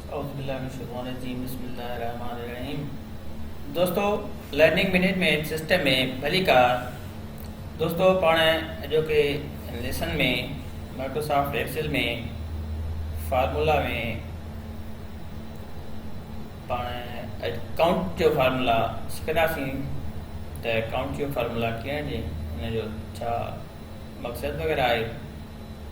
اعوذ بالله من الشيطان الرجيم بسم الله الرحمن الرحيم دوستو لرننگ مينيجمنٽ سسٽم ۾ ڀلي ڪار دوستو پاڻ اڄوڪي ليسن ۾ مائڪروسافٽ ايڪسل ۾ فارمولا ۾ پاڻ اڪاؤنٽ جو فارمولا سکنداسين ته اڪاؤنٽ جو فارمولا ڪيئن ڏي ان جو ڇا مقصد وغيرہ آهي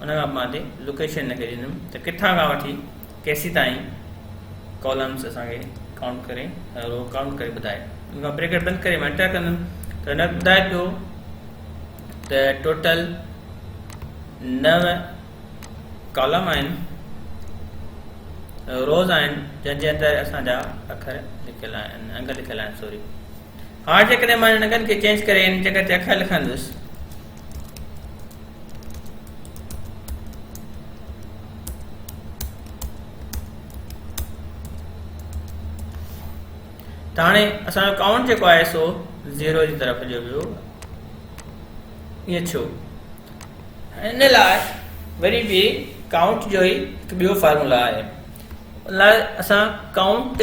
ان کان پوء مان اتي لوڪيشن هن کي ڏنم ته ڪٿان کان وٺي ڪيسي تائين ڪالمز اسان کي ڪائونٽ ڪري رو ڪائونٽ ڪري ٻڌائي ان کان بريڪٽ بند ڪري مان انٽر ڪندم ته هن ٻڌائي پيو ته ٽوٽل نو ڪالم آهن روز آهن جنهن جي اندر اسان جا اکر لکيل آهن انگ لکيل آهن سوري هاڻ جيڪڏهن مان هن ننگن کي چينج ڪري ان جڳهه تي اکر لکندس. ته هاڻي اسان جو ڪائونٽ جيڪو آهي سو زيرو جي طرف هليو ويو ائين ڇو ان لاء وري به ڪائونٽ جو ئي هڪ ٻيو فارمولا آهي ان لاء اسان ڪائونٽ